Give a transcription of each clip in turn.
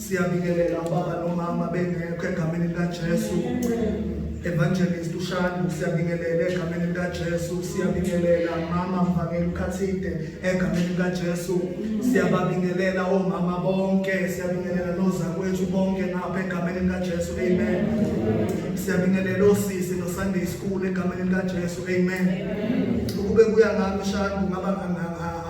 Siyabingelela ubaba nomama bengekho egameni likaJesu. Evangelist uShandu siyabingelela egameni likaJesu, siyabingelela mama mvangeli ukhathide egameni likaJesu. Siyababingelela omama bonke, siyabingelela nozakwethu bonke ngapha egameni likaJesu. Amen. Siyabingelela osisi no Sunday school egameni likaJesu. Amen. Ukube kuya ngami Shandu ngaba nganga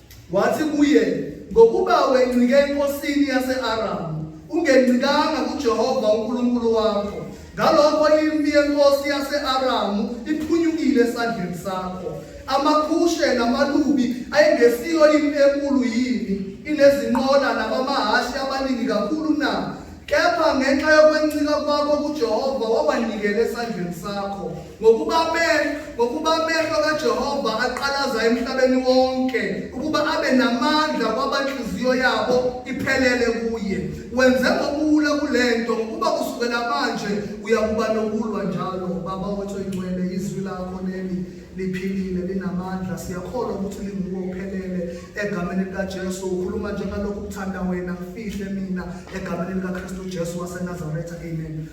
Wathi kuye, Ngokuba wencike enkosini yase-Aramu, ungencikanga kuJehova uNkulunkulu wakho, ngalokho impi yenkosi yase-Aramu iphunyukile esandleni sakho. AmaKhushe namaLubi ayengesiyo impi enkulu yini, inezinqola nabamahhashi abaningi kakhulu na? Kepha ngenxa yokwencika kwakho kuJehova wabanikela esandleni sakho, ngokuba amehlo ngokuba amehlo kaJehova aqalaza emhlabeni wonke, ukuba abe namandla kwabanhliziyo yabo iphelele kuye. Wenze ngokulwa kule nto, ngokuba kusukela manje uyakuba nokulwa njalo. Baba wethu oyingcwele, izwi lakho leli liphilile linamandla siyakholwa ukuthi linguwe uphelele egameni likaJesu ukhuluma njengalokhu kuthanda wena kufihle mina egameni likaKristu Jesu waseNazaretha amen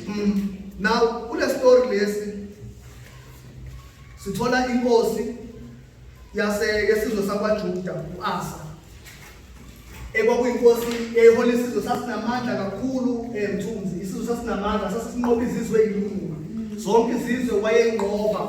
mm. now kule story lesi sithola inkosi yase yesizwe sakwaJuda uAsa ekwakuyinkosi eyayihola isizwe sasinamandla kakhulu emthunzi eh, isizwe sasinamandla sasisinqoba izizwe eyilunga zonke izizwe wayeyinqoba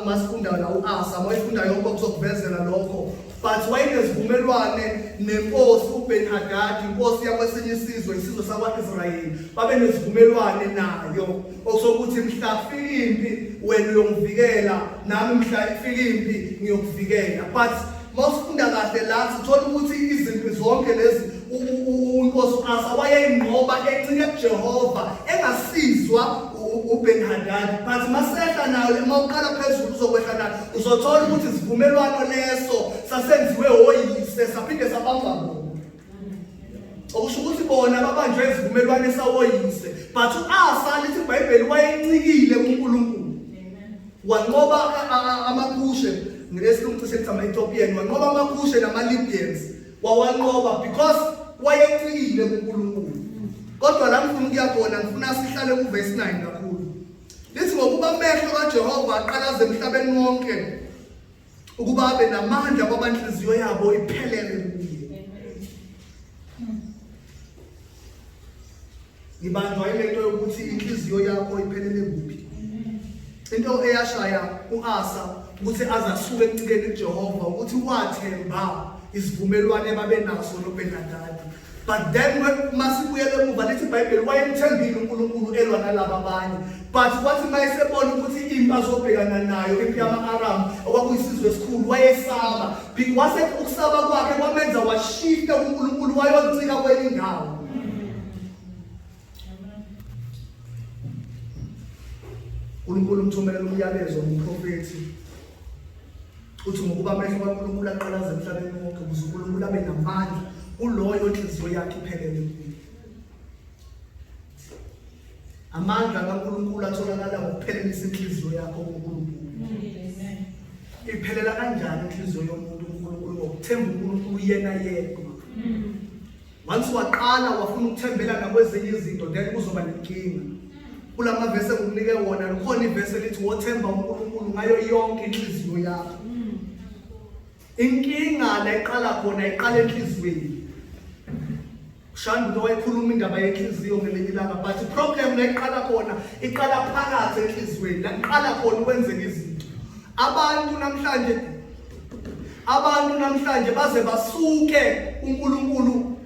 uma sifunda la u-asa uma ifunda yonke okuzokuvezela lokho but wayenezivumelwane nenkosi ubeni hadadi inkosi yakwesinye isizwe isizwe sakwa-israyeli babe nezivumelwane nayo okusokuthi mhla kufika impi wena uyongivikela nami mhla ifika impi ngiyokuvikela but mawusifunda kahle la sithola ukuthi izimpi zonke lezi unkosi uasa wayeyinqoba encike kujehova engasizwa uben hadad but masehla nayo uma uqala phezulu uzokwehla nayo uzothola ukuthi isivumelwano leso sasenziwe woyise saphinde sabamba bona okusho ukuthi bona babanjwe isivumelwane sawoyise but u-asa lithi ibhayibheli wayencikile kunkulunkulu wanqoba amakhushe ngesilungu cishe kuthi ama-ethiopian wanqoba amakhushe nama-libyans wawanqoba because wayencikile kunkulunkulu kodwa la ngifuna ukuya khona ngifuna sihlale kuvesi 9 kakhulu lithi ngokuba amehlo kajehova aqalaze emhlabeni wonke ukuba abe namandla kwaba nhliziyo yabo iphelele kuye ngibanjwa ilento yokuthi inhliziyo yakho iphelele kuphi into eyashaya uAsa ukuthi azasuke ekucikeni kuJehova ukuthi wathemba isivumelwane babenaso noBenadadi but then masibuyela emuva lithi ibhayibheli wayemthembile unkulunkulu elwa nalaba abanye but kwathi uma esebona ukuthi impi azobhekana nayo impi yama-aramu okwakuyisizwe esikhulu wayesaba wase ukusaba kwakhe kwamenza washifta kunkulunkulu wayoncika kwenye indawo uNkulunkulu umthumelela umyalezo umprofethi uthi ngokuba amehlo kaNkulunkulu aqalaza emhlabeni wonke ukuze uNkulunkulu abe namandla kuloyo inhliziyo yakhe iphelele kuye amandla kaNkulunkulu atholakala ngokuphelelisa inhliziyo yakho kuNkulunkulu iphelela kanjani inhliziyo yomuntu uNkulunkulu ngokuthemba uNkulunkulu yena yedwa once waqala wafuna ukuthembela nakwezinye izinto then kuzoba nenkinga kula mavesi engikunike wona lukhona ivesi elithi wothemba unkulunkulu ngayo yonke inhliziyo yakho inkinga la iqala khona iqala enhliziyweni ushanda umuntu owayekhuluma indaba yenhliziyo ngelinye ilanga but iproblem la iqala khona iqala phakathi enhliziyweni la kuqala khona ukwenzeka izinto abantu namhlanje Abantu namhlanje baze basuke uNkulunkulu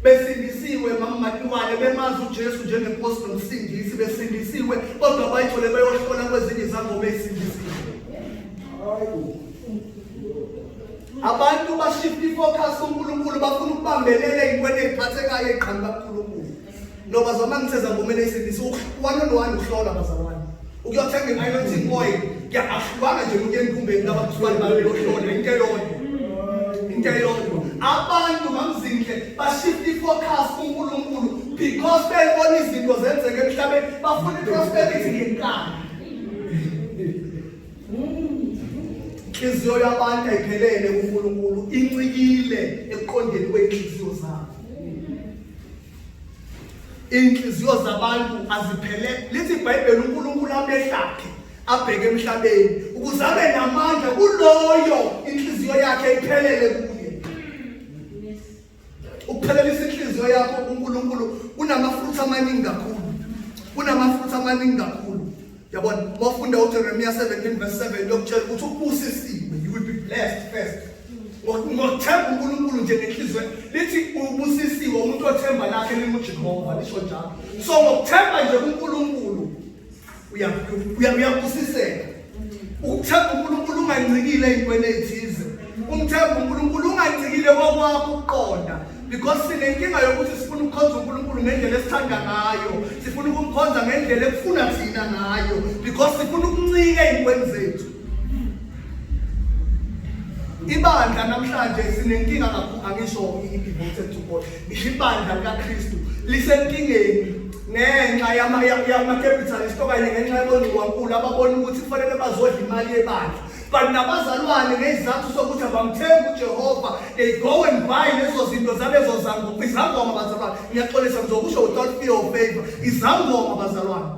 besindisiwe mamatiwane bemazi uJesu njengenkosi nomsindisi besindisiwe kodwa bayithole beyohlola kwezinye izangoma ezisindisiwe. Abantu bashifta ifocus uNkulunkulu bafuna ukubambelela inkweni eziphathekayo eqhamuka kuNkulunkulu. No bazalwane ngiseza ngomele isindisi one on one ukuhlola bazalwane. Ukuyothenga i-anointing oil ngiyahlukana nje umuntu enkumbeni laba kuzwani bayo yohlola into eyodwa. Into eyodwa. Abantu mamzinhle bashift i-focus kuNkulunkulu because bebona izinto zenzeka emhlabeni bafuna i-prosperity ngenkani. inhliziyo yabantu ayiphelele kuNkulunkulu incikile ekuqondeni kwenhliziyo zabo Inhliziyo zabantu aziphele. Lithi iBhayibheli uNkulunkulu amehlakhe abheke emhlabeni ukuze abe namandla kuloyo inhliziyo yakhe iphelele kuye. Ukuphelelisa inhliziyo yakho kuNkulunkulu kunamafutha amaningi kakhulu. Kunamafutha amaningi kakhulu. Yabona, wafunda uJeremiya 17 verse 7 lokutshela ukuthi ubusisiwe, you will be blessed first. Ngokuthemba uNkulunkulu nje ngenhliziyo lithi ubusisiwe umuntu othemba lakhe linguJehova lisho njalo. So ngokuthemba nje kuNkulunkulu uyabusiseka. Ukuthemba uNkulunkulu ungancikile ezintweni ezithize. umthemba unkulunkulu ungagcikile kokwakho ukuqonda because sinenkinga yokuthi sifuna ukukhonza unkulunkulu ngendlela esithanda ngayo sifuna ukumkhonza ngendlela ekufuna thina ngayo because sifuna ukuncika ey'ntweni zethu ibandla namhlanje sinenkinga kakhulu angisho i-devoted to god ngisho ibandla likakristu lisenkingeni ngenxa yama-capitalist okanye ngenxa yaboncuwankulu ababona ukuthi kufanele bazodla imali yebandla but nabazalwane ngezizathu sokuthi abamthembi uJehova they go and buy lezo zinto zalezo zangoma izangoma bazalwane ngiyaxolisa ngizokusho without fear of favor izangoma bazalwane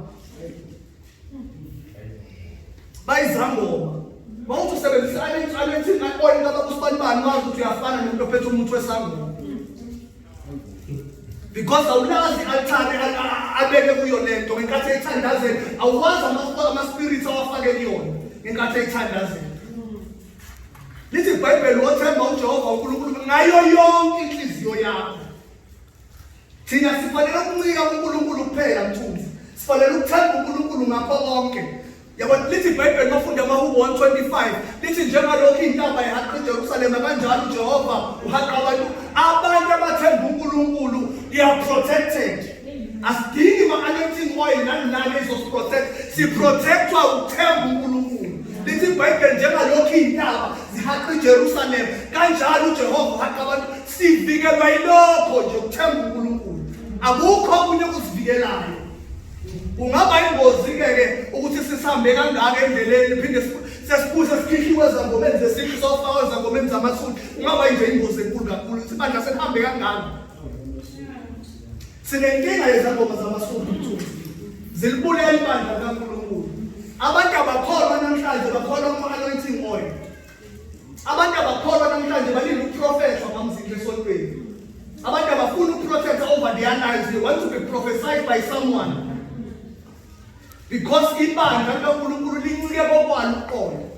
bayizangoma mawuthi usebenzisa alethini oil kabakusibanibani wazi ukuthi uyafana nomuntu ophethe umuthi wesangoma because awulazi i-altare abeke kuyo le nto ngenkathi eyithandazela awukwazi ama-spirits awafake kuyona ngenkathi eyithandazela lithi ibhayibheli wothemba ujehova unkulunkulu ngayo yonke inhliziyo yakho thina sifanele ukuncika kunkulunkulu kuphela mthunzi sifanele ukuthemba unkulunkulu ngakho konke Yabona lithi iBhayibheli mafunda amaHubo 125 lithi njengalokhu intaba ihaqa iJerusalema kanjalo uJehova uhaqa abantu abantu abathemba uNkulunkulu they are protected. Asidingi ma-anointing oil nani nani ezosiprotect siprotectwa ukuthemba uNkulunkulu. Lithi iBhayibheli njengalokhu intaba zihaqa iJerusalema kanjalo uJehova uhaqa abantu sivikelwa yilokho nje ukuthemba uNkulunkulu. Akukho okunye okusivikelayo. Kungaba ingozi-ke ke ukuthi sisambe kangaka endleleni phinde sesibuye sesikhihliwe ezangomeni zesintu sofakwa ezangomeni zamathuli kungaba nje ingozi enkulu kakhulu ukuthi bandla sekuhambe kangaka sinenkinga yezangoma zamasundu mthuli zilibulele ibandla likankulunkulu abantu abakholwa namhlanje bakholwa kuma-anointing oil Abantu abakholwa namhlanje balinda ukuprofetha bamzini esontweni. Abantu abafuna ukuprofetha over their lives. They want to be prophesied by someone. Because ibandla likaNkulunkulu lincike kokwalo uqondo.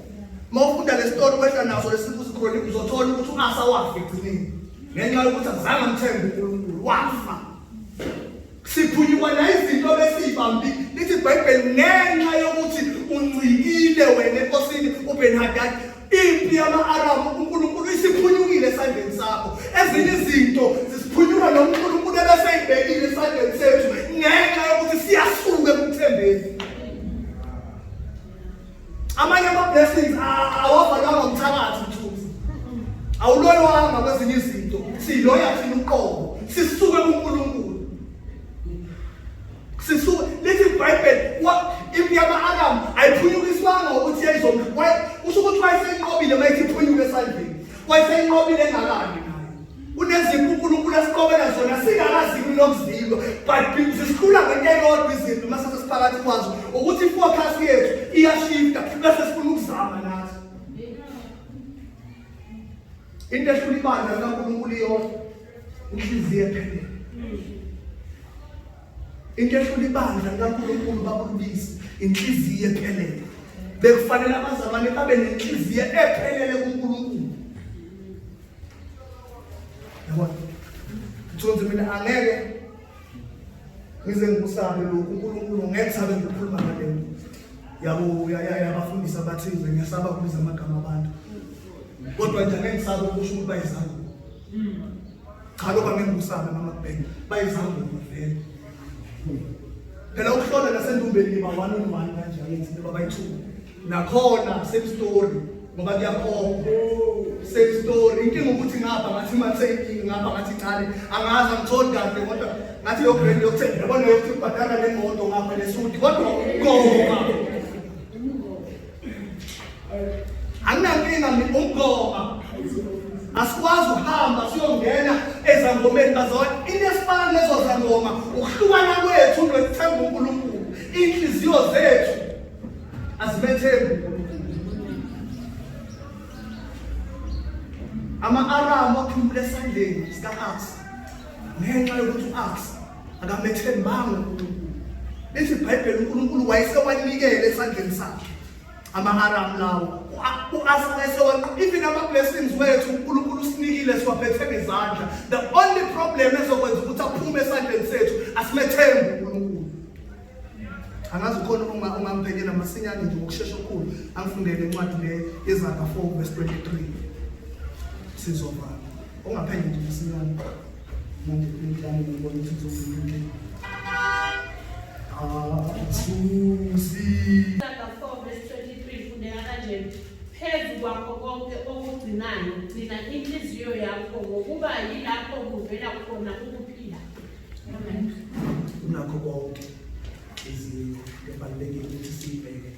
Mawufunda lesitori wehla naso lesibuzo khona uzothola ukuthi uAsa wafa egcineni. Ngenxa yokuthi azange amthembe uNkulunkulu wafa. Siphunyukwa nayizinto besiyibambi lithi iBhayibheli ngenxa yokuthi uncikile wena enkosini uBenhadad impi yama-aramu unkulunkulu isiphunyukile esandleni sakho ezinye izinto zisiphunyuka nonkulunkulu ebeseyibhekile esandleni sethu ngenxa yokuthi siyasuka ekuthembeni Amanye ama blessings awavalwanga umthakathi mthunzi. Awuloyanga kwezinye izinto. Siloya thina uqobo. Sisuke kuNkulunkulu. Sisuke lithi iBhayibheli wa impi yama Adam ayiphunyukiswanga ukuthi yayizomqwa. Usho ukuthi wayesenqobile mayithi phunyuke esandleni. Wayesenqobile engalani nayo. unezinkulunkulu esiqobela zona singakazibi nokuzilwa but zisikhula ngento eyodwa izinto uma sesesiphakathi kwazo ukuthi i-focus yethu iyashifta bese sifuna ukuzama nathi into ehlula ibandla likankulunkulu iyodwa inhliziyo ephelele into ehlula ibandla likankulunkulu babulubisi inhliziyo ephelele bekufanele abazalwane babe nenhliziyo ephelele kunkulunkulu yabona ngithonze mina angeke ngize ngikusabe lokhu unkulunkulu ngeke sabe ngikhuluma ngale nto yabo yabafundisi abathize ngiyasaba kubiza amagama abantu kodwa nje angeke ngisabe ukusho ukuthi bayizango cha lokho angeke ngikusabe mama kubheke bayizango vele phela ukuhlola nasendumbeni niba one on one kanjani ngithi niba bayithuka nakhona same story ngoba kuyakhomba same story inkinga ukuthi ngapha ngathi matheki ngapha ngathi ncane angazi angitholi kahle kodwa ngathi yo brand yokuthenga yabona yokuthi ubhadala le moto ngapha nesudi kodwa ukoma anginankinga mina ukoma asikwazi ukuhamba siyongena ezangomeni bazona into esifana lezo zangoma ukuhlukana kwethu nokuthemba unkulunkulu iy'nhliziyo zethu Azimethembi. Ama-Aramu aphumule esandleni sika-Aks ngenxa yokuthi u-Aks akamethembanga uNkulunkulu. Lithi iBhayibheli uNkulunkulu wayesewanikele esandleni sakhe ama-Aramu lawo. U-Aks wayesewanqoba even ama-blessings wethu uNkulunkulu usinikile siwaphethe ngezandla. The only problem ezokwenza ukuthi aphume esandleni sethu asimethembi uNkulunkulu. angazi ukhona uma ungamphekela masinyane nje ngokushesha okukhulu angifundele incwadi le yezaga 4 verse 23 sizovala ungaphenge nje masinyane manje ngidlane ngibona ukuthi ngizokwenza Susi. phezu kwakho konke okugcinayo gcina inhliziyo yakho ngokuba yilapho kuvela khona ukuphila unakho konke izinto ebalulekile ukuthi siyibheke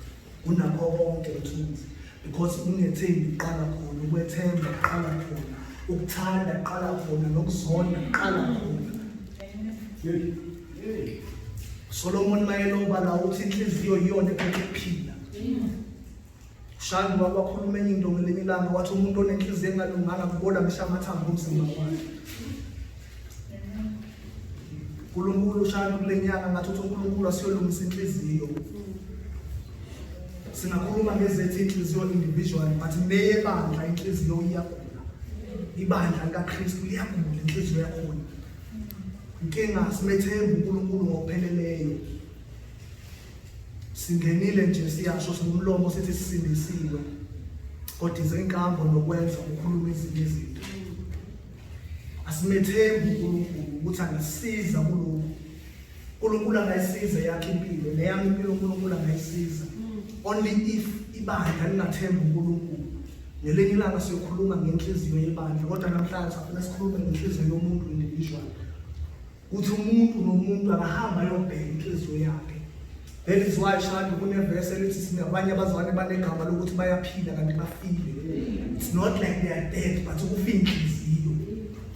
unakho konke mthunzi because ungethembi uqala khona ukwethemba uqala khona ukuthanda uqala khona nokuzonda uqala khona solomoni mayelobala uthi inhliziyo iyona ekuphila Shani baba wakhuluma enye into ngelinye ilanga wathi umuntu onenhliziyo engalunganga kubola ngisho amathambo omzimba wakhe. Nkulunkulu ushayela kule nyanga ngathi uthi uNkulunkulu asiyolungisa inhliziyo. Singakhuluma ngezethu inhliziyo individual but neyebandla inhliziyo iyagula. Ibandla likaKristu liyagula inhliziyo yakhona. Inkinga simethemba uNkulunkulu ngokupheleleyo. Singenile nje siyasho singumlomo sithi sisindisiwe kodwa izenkambo nokwenza ukukhuluma ezinye izinto. Asimethembi uNkulunkulu ukuthi angasiza kulokhu. uNkulunkulu angayisiza yakhe impilo neyami impilo uNkulunkulu angayisiza. Only if ibandla lingathembi uNkulunkulu. Ngelinye ilanga siyokhuluma ngenhliziyo yebandla kodwa namhlanje safuna sikhulume ngenhliziyo yomuntu individual. ukuthi umuntu nomuntu akahamba ayobheka inhliziyo yakhe that is why shandi kunevesi elithi sinabanye abazalwane banegama lokuthi bayaphila kanti bafile it's not like they are dead but ukufa inhliziyo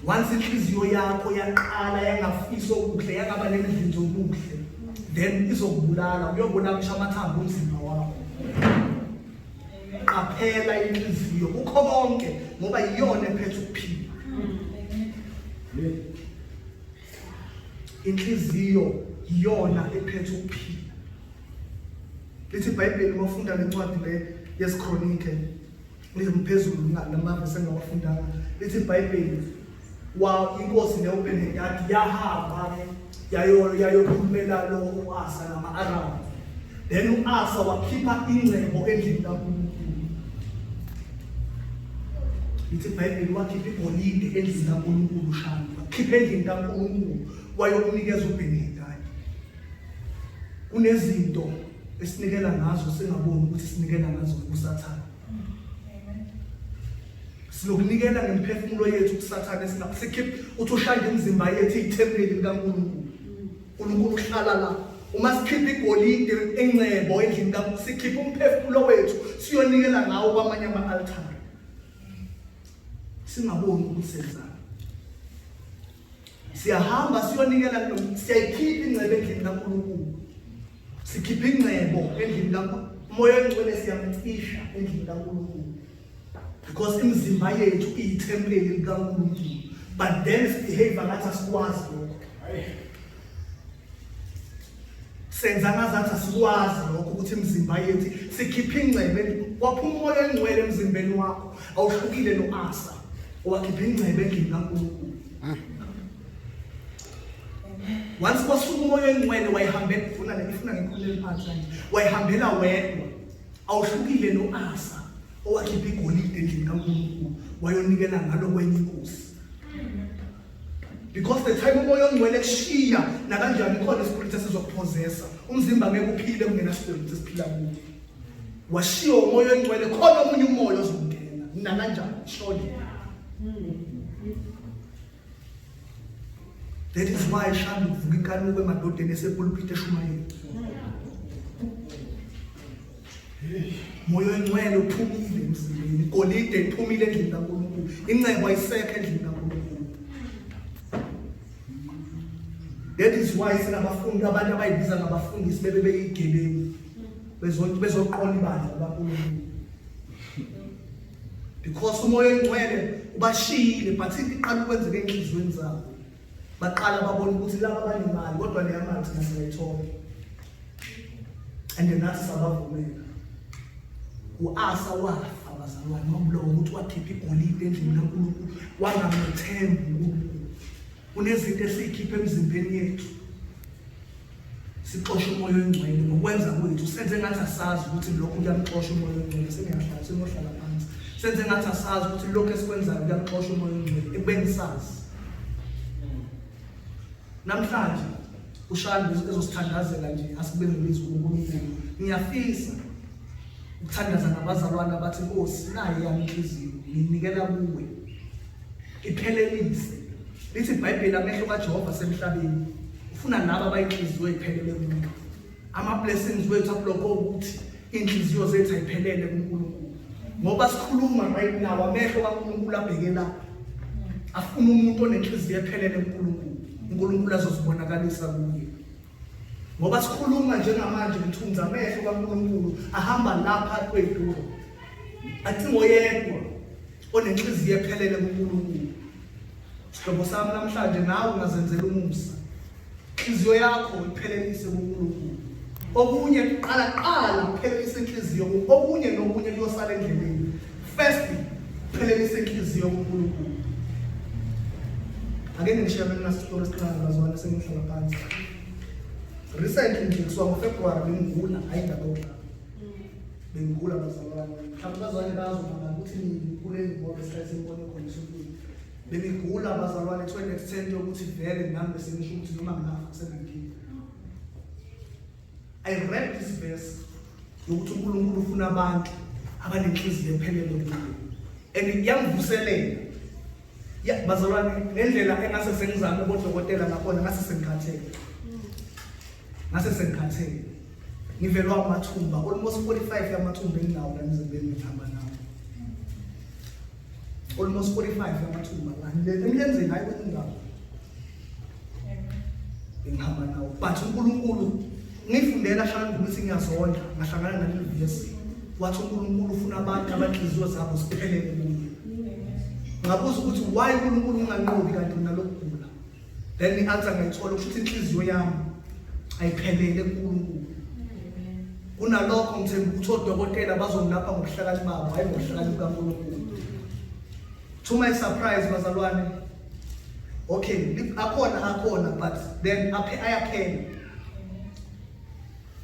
once inhliziyo yakho yaqala yangafisa okuhle yangaba nemidlinzo okuhle then izokubulala uyobona kusho amathambo omzimba wakho qaphela inhliziyo kukho konke ngoba iyona ephethe ukuphila inhliziyo iyona ephethe ukuphila lithi ibhayibheli uma ufunda le ncwadi le yesikronike ngizimphezulu namavesi engawafundanga lithi ibhayibheli wa inkosi leyo benedadi yahamba-ke yayokhulumela lo u-asa nama-aramu then u-asa wakhipha ingcebo endlini kankulunkulu Lithi iBhayibheli wakhipha igolide endlini kaNkulunkulu uShani, wakhipha endlini kaNkulunkulu wayokunikeza uBhenidadi. Kunezinto esinikela ngazo singaboni ukuthi sinikela ngazo kusathane. Silokunikela ngemiphefumulo yethu kusathane singakusikhipha uthi ushaya imizimba yethu ithempeli likaNkulunkulu. uNkulunkulu uhlala la uma sikhipha igolide engcebo endlini ka sikhipha umphefumulo wethu siyonikela ngawo kwamanye ama-altare singaboni ukuthi senzani siyahamba siyonikela siyayikhipha ingcebo endlini kaNkulunkulu sikhipha ingcebo endlini kaNkulunkulu umoya oyingcwele siyamcisha endlini kaNkulunkulu because imizimba yethu iyithempeli likaNkulunkulu but then sibehave ngathi asikwazi lokho senza ngazathi asikwazi lokho ukuthi imizimba yethu sikhiphe ingcebe kwaphuma umoya engcwele emzimbeni wakho awuhlukile no-asa owakhipha ingcebe endlini kaNkulunkulu once kwasuka umoya engcwele wayihambela ifuna le ifuna ngekhulu eliphansi kanje wayihambela wedwa Awuhlukile no-Asa owakhipha igolide endlini kaNkulunkulu wayonikela ngalo kwenye inkosi. Because the time umoya ongcwele kushiya nakanjani ikhona ispirit esizokuphozesa. Umzimba ngeke uphile kungena spirit esiphila kuwo. Washiya umoya ongcwele khona omunye umoya ozongena nakanjani shona. That is why ishanda ukuvuka inkanuko emadodeni esepulpit eshumayela. Moyo engcwele uphumile emzimbeni, igolide liphumile endlini kaNkulunkulu, incebo ayisekho endlini kaNkulunkulu. That is why sinabafundi abantu abayibiza ngabafundisi bebe beyigebengu bezoqola ibandla labankulunkulu. because umoya oyingcwele ubashiyile but into iqala ukwenzeka enhliziyweni zabo baqala babona ukuthi laba banemali kodwa leya mali thina singayithola and nathi sabavumela u-asa wafa bazalwane wamlowa ukuthi wakhipha igolide endlini kankulunkulu wangamethembi unkulunkulu kunezinto esiyikhipha emzimbeni yethu sixoshe umoya oyingcwele ngokwenza kwethu senze ngathi asazi ukuthi lokhu kuyamuxosha umoya oyingcwele sengiyahlala sengohlala phansi senze ngathi asazi ukuthi lokhu esikwenzayo kuyamuxosha umoya oyingcwele ekubeni sazi namhlanje ushanda ezosithandazela nje asibengelizi uNkulunkulu ngiyafisa ukuthandaza nabazalwane abathi Nkosi naye yami inhliziyo nginikela kuwe Iphelelise. Lithi iBhayibheli amehlo kaJehova asemhlabeni. Ufuna laba abayinhliziyo iphelele kumuntu. Ama blessings wethu abloko ukuthi inhliziyo zethu ayiphelele kuNkulunkulu. Ngoba sikhuluma right now amehlo kaNkulunkulu abheke la. Afuna umuntu onenhliziyo ephelele kuNkulunkulu. uNkulunkulu azozibonakalisa kuye. Ngoba sikhuluma njengamanje ngithunza amehlo kaNkulunkulu ahamba lapha kweduro. Acingo yedwa onenhliziyo ephelele kuNkulunkulu sihlobo sami namhlanje nawe ungazenzela umusa inhliziyo yakho iphelelise kuNkulunkulu okunye kuqala qala kuphelelisa inhliziyo okunye nokunye kuyosala endleleni firstly kuphelelisa inhliziyo kuNkulunkulu ake ngishiya mina sitori siqala ngazwana sengihlala phansi recently nje kusuka ngofebruwari bengigula ayindaba yokudlala Bengigula bazalwane. Mhlawumbe abazali bazi mama ukuthi ngigule ngoba isikhathi sengibone khona esontweni. Bengigula bazalwane to an extent yokuthi vele nami bese ngisho ukuthi noma nginafa kusenankinga. I read this verse yokuthi uNkulunkulu ufuna abantu abanenhliziyo ephelele kuye. And iyangivuselela ya bazalwane ngendlela engase sengizame ubodokotela ngakhona ngase sengikhathele ngase sengikhathele ngivelwa amathumba almost 45 yamathumba enginawo la emzimbeni ngihamba nawo almost 45 yamathumba emlenzeni hayi kwenye indawo ngihamba nawo but unkulunkulu Ngifundela shana ukuthi ngiyazondla ngahlangana naleli vesi wathi uNkulunkulu ufuna abantu abanhliziyo zabo ziphelele kuye. Ngabuza ukuthi why uNkulunkulu unganqobi kanti nalokugula. Then i-answer ngayithola ukuthi inhliziyo yami ayiphelele kuNkulunkulu. Kunalokho ngithemba ukuthi odokotela bazongilapha ngobuhlakani babo hayi ngobuhlakani bukaNkulunkulu. To my surprise bazalwane okay akhona akhona but then aphe ayaphela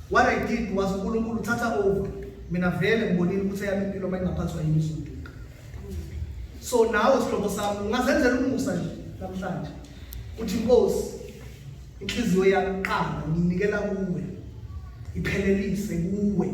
What I did was uNkulunkulu thatha over. Mina vele ngibonile ukuthi eyami impilo mayingaphathwa yini izoduka. So nawe sihlobo sami ungazenzela umusa nje namhlanje. Uthi inkosi inhliziyo yami qala nginikela kuwe. Iphelelise kuwe.